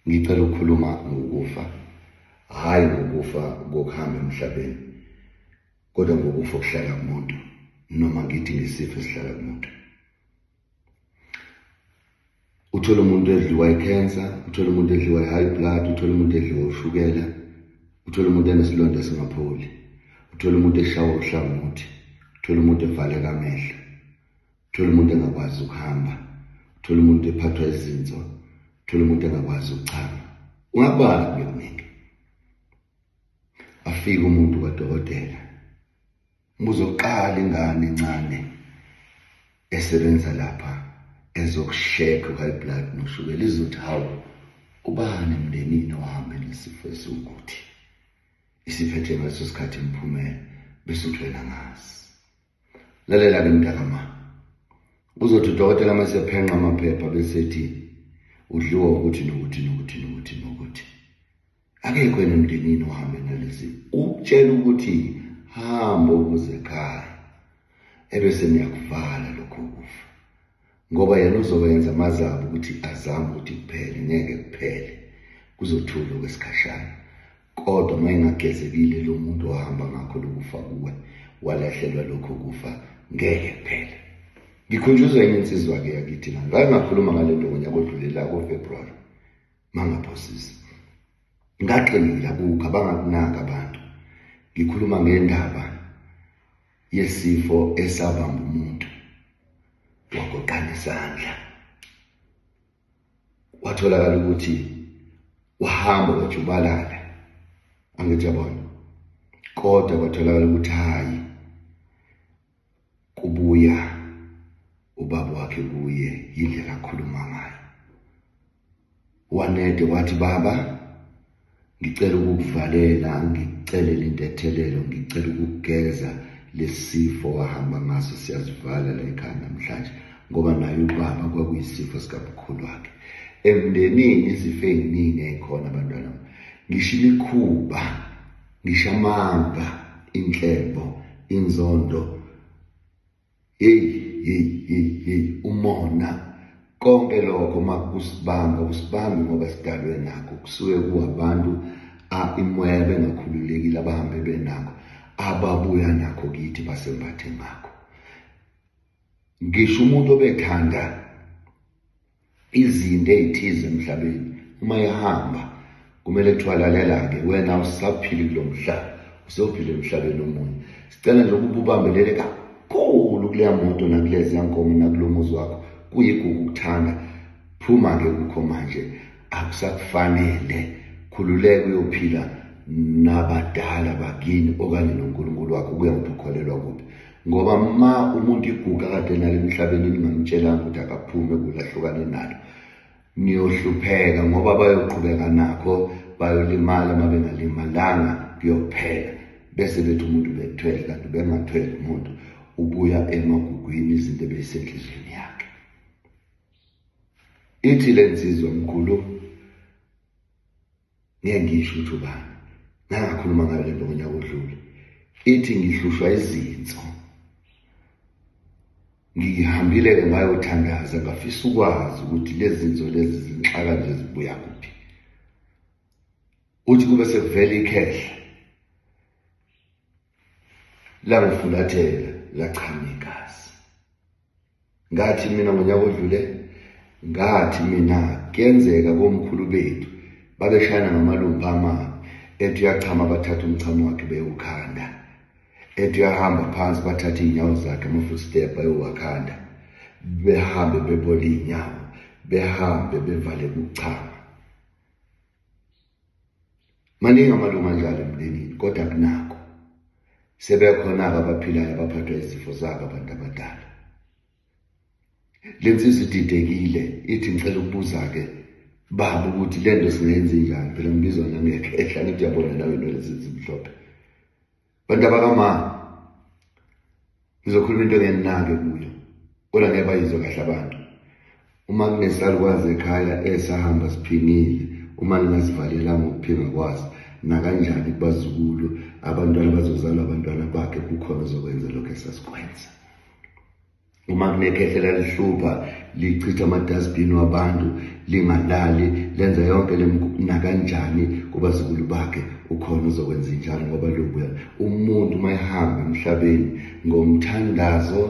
Ngicela ukukhuluma ngokufa, hhayi ngokufa kokuhamba emhlabeni, kodwa ngokufa okuhlala kumuntu, noma ngithi ngesifo esihlala kumuntu. Uthole umuntu edliwa i-cancer, uthole umuntu edliwa i-high blood, uthole umuntu edliwa ushukela, uthole umuntu enesilonda esingapholi, uthole umuntu eshawa uhlangothi, uthole umuntu evaleka amehlo, thola umuntu engakwazi ukuhamba thola umuntu ephathwa izinso thola umuntu engakwazi ukuchama ungabala kube kuningi afike umuntu kwadokotela umbuzo oqala ingane encane esebenza lapha ezokusheka high blood noshukela izothi hawu ubani emndenini ohambe nesifo esiwukuthi isiphethe ngaleso sikhathi imphumela bese uthwela ngazi lalela-ke mntakama uzothi udokotela uma sephenqa amaphepha bese ethi udliwa ukuthi nokuthi nokuthi nokuthi nokuthi akekho yena emndenini ohambe nalezi ukutshela ukuthi hambo ukuze ekhaya ebese niyakuvala lokho kufa ngoba yena uzowenza amazabi ukuthi azame ukuthi kuphele ngeke kuphele kuzothula okwesikhashana kodwa uma engagezekile lo muntu ohamba ngakho lokufa kuwe walahlelwa lokho kufa ngeke kuphele ngikhunjuzwa enye insizwa-ke yakithi na ngake ngakhuluma ngale nto ngonyaka odlulela kofebruwari mangaphosisi ngaqinile akukho abangakunaki abantu ngikhuluma ngendaba yesifo esabamba umuntu wagoqana isandla watholakala ukuthi wahamba wajubalala angithi yabona kodwa kwatholakala ukuthi hayi kubuya ubaba wakhe kuye yindlela akhuluma ngayo Wanede wathi baba ngicela ukukuvalela ngicelele intethelelo ngicela ukugeza lesifo wahamba ngaso siyazivala la ekhaya namhlanje ngoba naye ubaba kwakuyisifo sikamkhulu wakhe emndenini izifo ey'ningi ey'khona abantwana ngisho imikhuba ngisho amanga inhlebo inzondo Hey hey hey hey umona konke lokho makusibanga usibanga ngoba sidalwe nakho kusuke kuwabantu a imoya bengakhululekile abahambe benakho ababuya nakho kithi basembathe ngakho ngisho umuntu obethanda izinto ey'thize emhlabeni uma ihamba kumele kuthiwa lalela-ke wena usaphili kulo mhlaba usophile emhlabeni omunye sicela nje ukuba ubambelele kakhulu kuleya moto nakuleziya nkomo nakulo muzi wakho kuyigugu ukuthanda phuma-ke kukho manje akusakufanele khululeka uyophila nabadala bakini okanye nonkulunkulu wakho kuya ngokuthi ukholelwa kuphi ngoba ma umuntu iguga kade nalo emhlabeni ningamtshelanga ukuthi akaphume kulahlukane nalo niyohlupheka ngoba bayoqhubeka nakho bayolimala uma bengalimalanga kuyophela bese bethi umuntu bethwele kanti bengathwele umuntu ubuya emagugwini izinto ebeyisenhliziyweni yakhe ithi le nsizwa mkhulu Ngeke ngisho ukuthi ubani. Ngangakhuluma ngayo lento ngonyaka odlule. Ithi ngihlushwa izinso. Ngihambile ke ngayothandaza ngafisa ukwazi ukuthi lezi zinzo lezi zinxaka nje zibuya kuphi. Uthi kube sekuvela ikhehla. Langifulathela lachama igazi. ngathi mina ngonyaka odlule ngathi mina kuyenzeka komkhulu bethu babeshayana ngamalumba amabi ethi uyachama bathatha umchamo wakhe bewukhanda ethi uyahamba phansi bathatha iy'nyawo zakhe ama-footstep ayowakhanda behambe bebole iy'nyawo behambe bevale ukuchama maningi amalungu anjalo emndenini kodwa kunako sebekhona-ke abaphilayo abaphathwa izifo zabo abantu abadala le nsizwa ididekile ithi ngicela ukubuza-ke baba ukuthi le nto singayenze njani phela ngibizwa nangekhehla ngithi uyabona nawe nolezi zimhlophe bantu abakama ngizokhuluma into engenake kuyo kodwa ngeke bayizwe kahle abantu uma kunesalukwazi ekhaya esahamba siphingile uma ningasivalelanga ukuphinga kwazi nakanjani kubazukulu abantwana bazozalwa abantwana bakhe kukhona ozokwenza lokho esasikwenza uma kunekhehla lalihlupha lichitha amadustbin wabantu lingalali lenza yonke nakanjani kubazukulu bakhe ukhona uzokwenza njalo ngoba lobuya umuntu uma ehamba emhlabeni ngomthandazo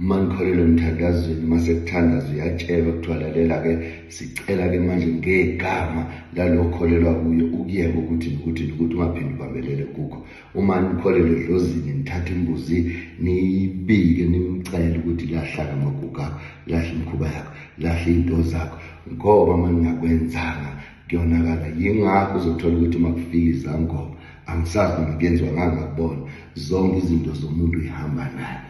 uma nikholelwe emthandazweni uma sekuthandaza uyatshelwa kuthiwa lalela-ke sicela-ke manje ngegama lalokholelwa kuyo ukuyeka ukuthi nokuthi nokuthi ungaphinde ubambelele kukho uma nikholelwe edlozini nithatha imbuzi niyibike nimcele ukuthi lahlaka amaguga lahle imikhuba yakho lahle iy'nto zakho ngoba uma ningakwenzanga kuyonakala yingakho uzothola ukuthi uma kufika izangoma angisazi noma kuyenziwa ngangakubona zonke izinto zomuntu uyihamba naye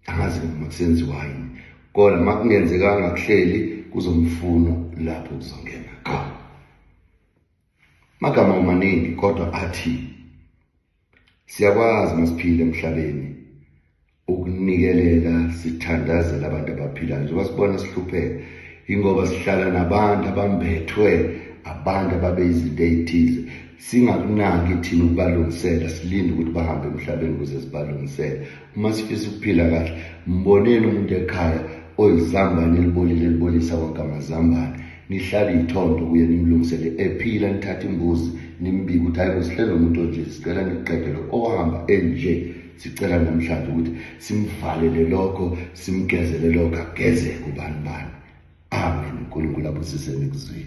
angazi noma kusenziwa yini kodwa uma kungenzekanga kuhleli kuzomfuna lapho kuzongena khona Magama amaningi kodwa athi siyakwazi masiphile emhlabeni ukunikelela sithandazela abantu abaphilayo njengoba sibona sihlupheka ingoba sihlala nabantu abambethwe abantu ababe izinto eyithize singakunaki thina ukubalungisela silinde ukuthi bahambe emhlabeni ukuze sibalungisele uma sifisa ukuphila kahle mboneni umuntu ekhaya oyizambane elibolile elibolisa wonke amazambane nihlabe iy'thondo kuye nimlungisele ephila nithathe imbuzi nimbike ukuthi hayi kusihlele umuntu onje sicela niqedele ohamba enje sicela namhlanje ukuthi simvalele lokho simgezele lokho agezeke ubani bani amen unkulunkulu abusise nikuzwile